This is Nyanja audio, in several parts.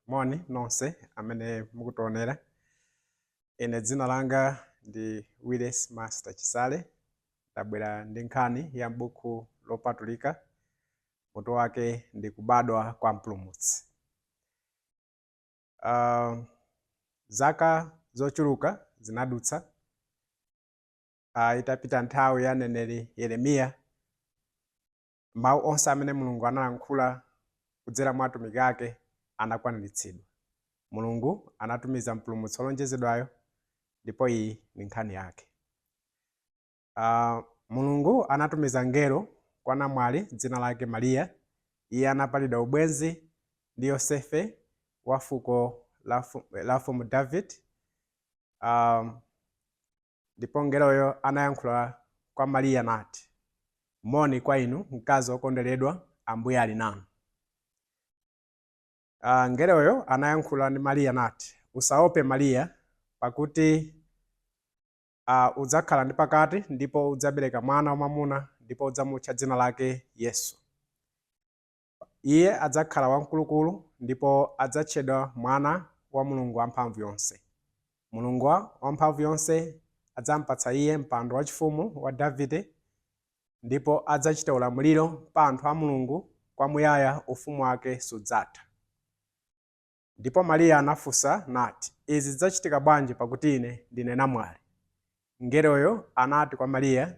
Moni nonse amene mukutionera. Ine dzina langa ndi Willis Master Chisale. Ndabwera ndi nkhani ya m'buku lopatulika, mutu wake ndi Kubadwa kwa Mpulumutsi. Uh, zaka zochuluka zinadutsa uh, itapita nthawi ya mneneri Yeremiya Mawu onse amene Mulungu analankhula kudzera mwa atumiki ake anakwaniritsidwa. Mulungu anatumiza Mpulumutsi wolonjezedwayo ndipo iyi ndi nkhani yake. Uh, Mulungu anatumiza mngelo kwa namwali dzina lake Mariya. Iye anapalidwa ubwenzi ndi Yosefe wa fuko la Mfumu Davide. Um, Ndipo mngeloyo anayankhula kwa Mariya nati, Moni kwa inu, mkazi wokonderedwa, Ambuye ali nanu. Ah, mngeloyo anayankhula ndi Mariya nati, Usaope Mariya, pakuti ah, udzakhala ndi pakati ndipo udzabereka mwana wamwamuna ndipo udzamutcha dzina lake Yesu. Iye adzakhala wamkulukulu ndipo adzatchedwa Mwana wa Mulungu Wamphamvuyonse. Mulungu Wamphamvuyonse adzamupatsa Iye mpando wachifumu wa Davide, ndipo adzachita ulamuliro pa anthu a Mulungu kwamuyaya, ufumu wake sudzatha. Ndipo Mariya anafunsa nati, Izi zidzachitika bwanji pakuti ine ndine namwali? Mngeloyo anati kwa Mariya,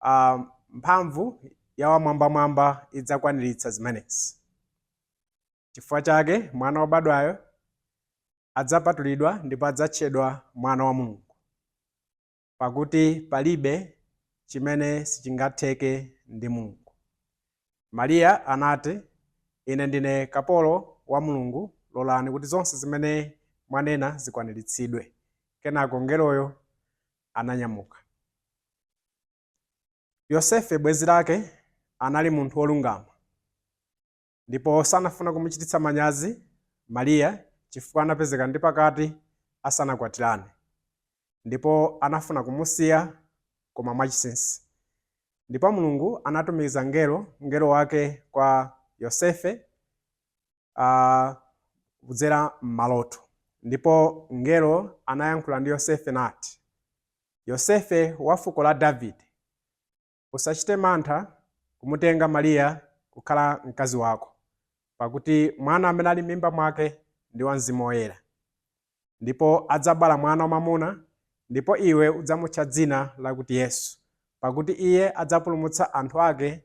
a, mphamvu ya Wamwambamwamba idzakwaniritsa zimenezi. Chifukwa chake mwana wobadwayo adzapatulidwa ndipo adzatchedwa Mwana wa Mulungu, pakuti palibe chimene sichingatheke ndi Mulungu. Mariya anati, Ine ndine kapolo wa Mulungu, lolani kuti zonse zimene mwanena zikwaniritsidwe. Kenako mngeloyo ananyamuka. Yosefe, bwenzi lake, anali munthu wolungama, ndipo sanafuna kumuchititsa manyazi Mariya chifukwa anapezeka ndi pakati asanakwatirane, ndipo anafuna kumusiya koma mwachinsinsi. Ndipo Mulungu anatumiza mngelo, mngelo Wake kwa Yosefe, kudzera m'maloto. Ndipo mngelo anayankhula ndi Yosefe nati, Yosefe wa fuko la Davide, usachite mantha kumutenga Mariya kukhala mkazi wako, pakuti mwana amene ali m'mimba mwake ndi wa Mzimu Woyera. ndipo adzabala mwana wamwamuna, ndipo iwe udzamutcha dzina lakuti Yesu, pakuti iye adzapulumutsa anthu ake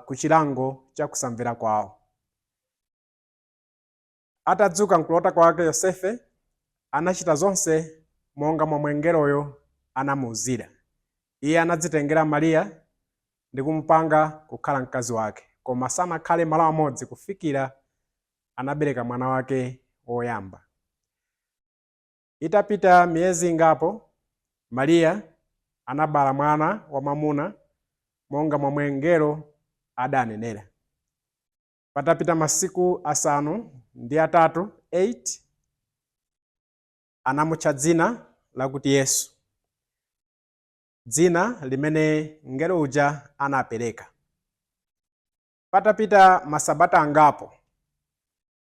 ku chilango cha kusamvera kwawo. Atadzuka m'kulota kwake, Yosefe anachita zonse monga momwe mngeloyo anamuuzira. Iye anadzitengera Mariya ndi kumupanga kukhala mkazi wake, koma sanakhale malo amodzi kufikira anabereka mwana wake woyamba. Itapita miyezi ingapo, Mariya anabala mwana wamwamuna monga momwe mngelo adanenera. Patapita masiku asanu ndi atatu anamutcha dzina lakuti Yesu, dzina limene mngelo uja anapereka. Patapita masabata angapo,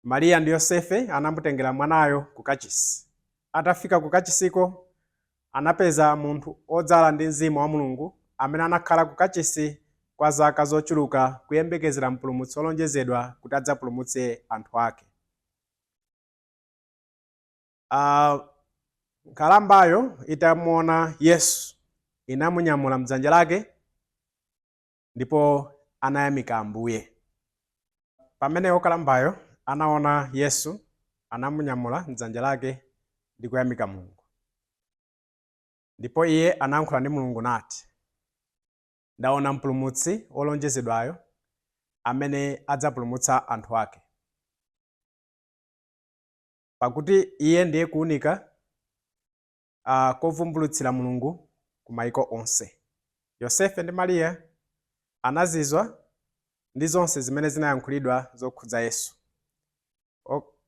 Mariya ndi Yosefe anamutengera mwanayo ku kachisi. Atafika ku kachisiko, anapeza munthu odzala ndi Mzimu wa Mulungu amene anakhala ku kachisi kwa zaka zochuluka kuyembekezera Mpulumutsi olonjezedwa kuti adzapulumutse anthu ake. Uh, nkhalambayo itamuona Yesu inamunyamula mdzanja lake ndipo anayamika Ambuye. Pamene wokalambayo anaona Yesu, anamunyamula m'dzanja lake ndi kuyamika Mulungu. Ndipo iye anayankhula ndi Mulungu nati, Ndaona Mpulumutsi wolonjezedwayo amene adzapulumutsa anthu ake. Pakuti iye ndiye kuunika kovumbulutsira Mulungu ku maiko onse. Yosefe ndi Mariya anazizwa ndi zonse zimene zinayankhulidwa zokhudza Yesu.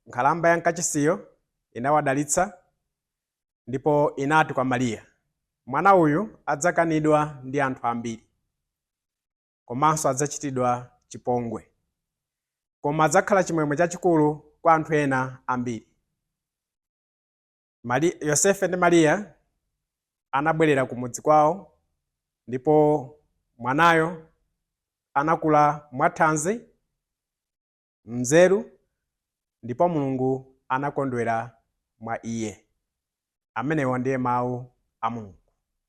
Nkhalamba ya mkachisiyo inawadalitsa, ndipo inati kwa Mariya, Mwana uyu adzakanidwa ndi anthu ambiri, komanso adzachitidwa chipongwe, koma adzakhala chimwemwe chachikulu kwa anthu ena ambiri. Yosefe ndi Mariya anabwerera kumudzi kwawo ndipo mwanayo anakula mwathanzi, m'nzeru ndipo Mulungu anakondwera mwa iye. Amenewo ndiye mawu a Mulungu.